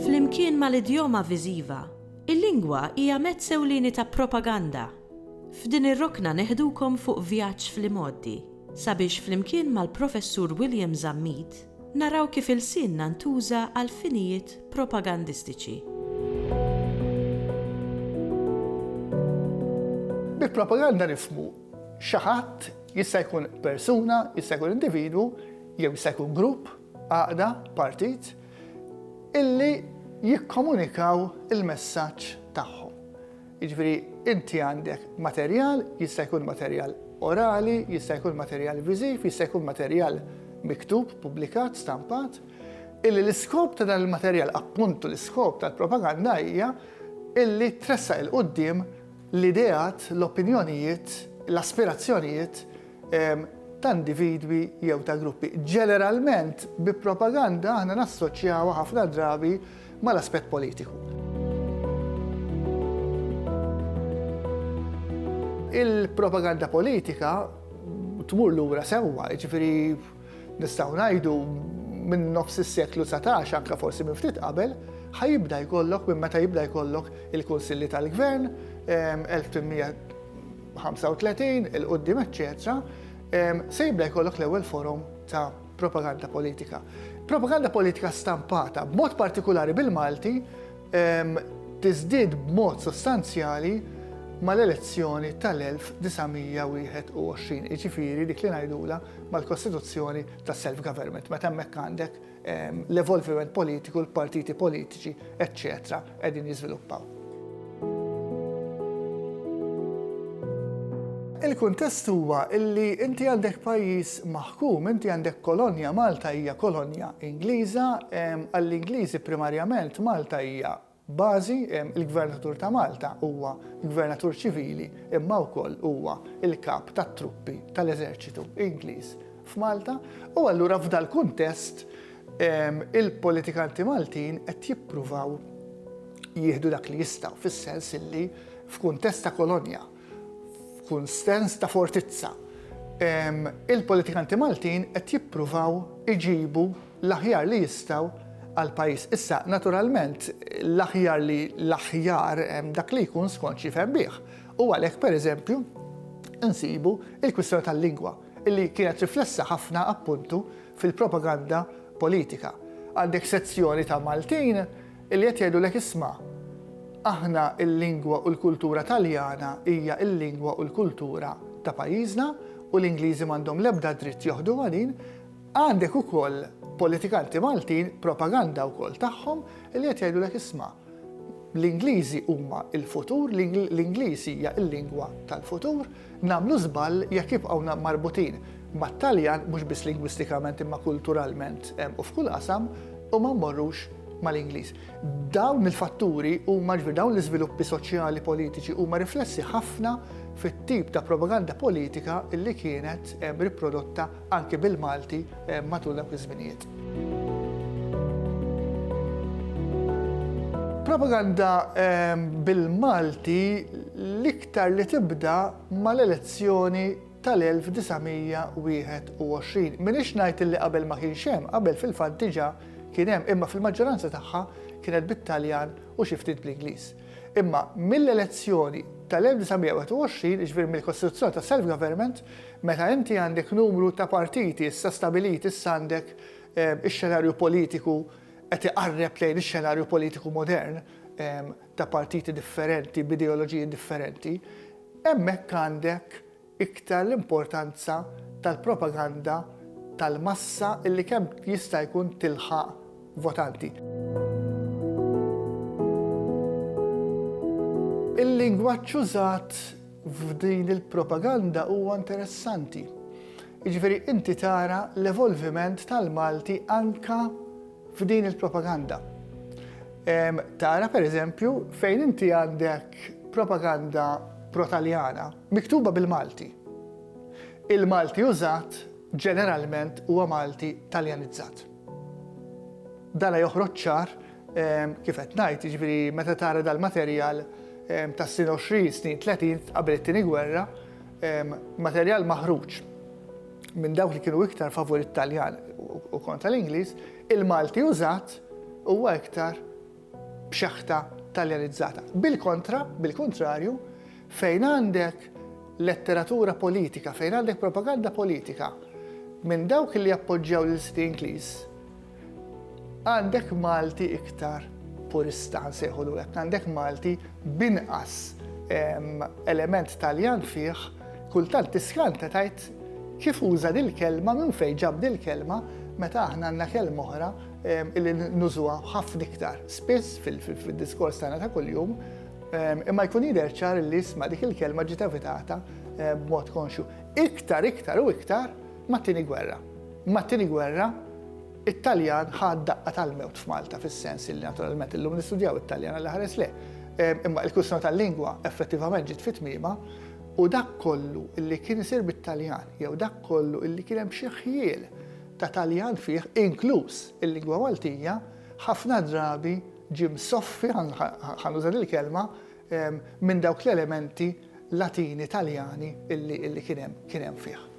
Flimkien mal-idjoma viżiva, il-lingwa hija mezz ewlieni ta' propaganda. F'din ir-rokna neħdukom fuq vjaġġ fl-imgħoddi sabiex flimkien mal-Professur William Zammit, Naraw kif ilsienna ntuża għal finijiet propagandistiċi. Bi propaganda nifhmu xi ħadd, jista' jkun persuna, jista' jkun individwu, jew jista' jkun grupp, għaqda, partit, illi jikkomunikaw il-messaġġ tagħhom. Jiġifieri inti għandek materjal, jista' jkun materjal orali, jista' jkun materjal viżiv, jista' jkun materjal miktub, pubblikat, stampat, illi l-iskop ta' dan il-materjal, appuntu l-iskop tal-propaganda hija illi tressaq 'il quddiem l-ideat, l-opinjonijiet, l-aspirazzjonijiet ta' individwi jew ta' gruppi. Ġeneralment bi propaganda aħna nassoċjawha ħafna drabi mal-aspett politiku. Il-propaganda politika tmur lura sewwa, jiġifieri nistgħu ngħidu minn nofs is-seklu 19 anke forsi minn ftit qabel, ħajibda jkollok minn meta jibda jkollok il-Kunsilli tal-Gvern 1835 il-qudiem eċċetera, se jibda jkollok l-ewwel forum ta' Propaganda politika. Propaganda politika stampata, b'mod partikulari bil-Malti, tiżdied b'mod sostanzjali mal-elezzjoni tal-1921, iġifiri dik li ngħidula mal-Kostituzzjoni ta' self-government, meta hemmhekk għandek ehm, l-evolviment politiku, l-partiti politiċi, eċċetera, qegħdin jiżviluppaw. Il-kuntest huwa illi inti għandek pajjiż maħkum, inti għandek kolonja, Malta hija kolonja Ingliża, għall-Ingliżi primarjament Malta hija bażi, il-Gvernatur ta' Malta huwa Gvernatur ċivili imma wkoll huwa il-kap tat-truppi tal-eżerċitu Ingliż. f'Malta u allura f'dal-kuntest il-politikanti Maltin qed jippruvaw jieħdu dak li jistgħu fis-sens illi f'kuntest ta' kolonja, f'kunsens ta' fortizza, il-politikanti Maltin qed jippruvaw iġibu l-aħjar li jistgħu għall-pajjiż. Issa, naturalment, l-aħjar li l-aħjar dak li jkun skont xi fehmih. U għalhekk, pereżempju, insibu il-kwistjoni tal-lingwa. Illi kienet riflessa ħafna appuntu fil-propaganda politika. Għandek sezzjoni ta' Maltin illi qed jgħidulek isma', aħna l-lingwa u l-kultura Taljana hija l-lingwa u l-kultura ta' pajjiżna u l-Ingliżi m'għandhom l-ebda dritt joħduha din. Għandek ukoll politikanti Maltin, propaganda wkoll tagħhom, illi qed jgħidulek isma', L-Ingliżi huma l-futur, l-Ingliż hija l-lingwa tal-futur, nagħmlu żball jekk jibqgħu marbutin mat-Taljan mhux biss lingwistikament imma kulturalment u f'kull qasam u ma mmorrux mal-Ingliż. Dawn il-fatturi huma ġifieri dawn l-iżviluppi soċjali politiċi huma riflessi ħafna fit-tip ta' propaganda politika li kienet riprodotta anke bil-Malti matul dawk iż-żminijiet. Propaganda bil-Malti l-iktar li tibda mal-elezzjoni tal-1921. Minix ngħid li qabel ma kienx hemm, qabel fil-fatt diġà kien hemm, imma fil-maġġoranza tagħha kienet bit-Taljan u xi ftit bl-Ingliż. Imma mill-elezzjoni tal-1921, jiġifieri mill-kostituzzjoni ta' self-government, Meta inti għandek numru ta' partiti issa stabiliti, issa għandek ix-xenarju politiku qed iqarreb lejn ix-xenarju politiku modern ta' partiti differenti b'ideoloġiji differenti, hemmhekk għandek iktar l-importanza tal-propaganda tal-massa illi kemm jista' jkun tilħaq votanti. Il-lingwaġġ użat f'din il-propaganda huwa interessanti. Jiġifieri inti tara l-evolviment tal-Malti anka f'din il-propaganda. Tara pereżempju fejn inti għandek propaganda pro-Taljana miktuba bil-Malti. Il-Malti użat ġeneralment huwa Malti Taljanizzat. Dana joħroġ ċar kif qed ngħid, jiġifieri meta tara dal-materjal tas-snin 20, snin 30 qabel it-Tieni Gwerra, materjal maħruġ minn dawk li kienu iktar favur it-Taljan u kontra l-Ingliż, il-Malti użat huwa iktar b'xaħta taljanizzata. Bil-kontra, bil-kuntrarju, fejn għandek letteratura politika, fejn għandek propaganda politika minn dawk li jappoġġjaw lil City Ingliż, għandek Malti iktar purista nsejħu l għandek Malti binqas element Taljan fih, kultant tiskanta tajt kif uża dil-kelma minn fejn ġab dil-kelma meta aħna għandna kelma oħra illi nużuha ħafna iktar spiss fil-diskors tagħna ta' kuljum, imma jkun jidher ċar li isma' dik il-kelma ġiet evitata b'mod konxu. Iktar, iktar u iktar mat-tieni gwerra. Mat-tieni gwerra it-Taljan ħad daqqa tal-mewt f'Malta fis-sens li naturalment illum nistudjaw it-Taljan għal ħares le. Imma l-kwistjoni tal-lingwa effettivament ġiet fit-tmiema u dak kollu illi kien isir bit-Taljan jew dak kollu illi kien hemm xi ħjiel ta' Taljan fih, inkluż il-lingwa Maltija, ħafna drabi ġie msoffi, ħa nuża din il-kelma, minn dawk l-elementi Latini, Taljani li kien hemm, kien hemm fih.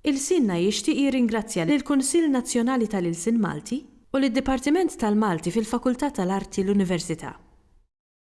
Ilsienna jixtieq jirringrazzja lill-Kunsill Nazzjonali tal-Ilsien Malti u lid-Dipartiment tal-Malti fil-Fakultà tal-Arti l-Università.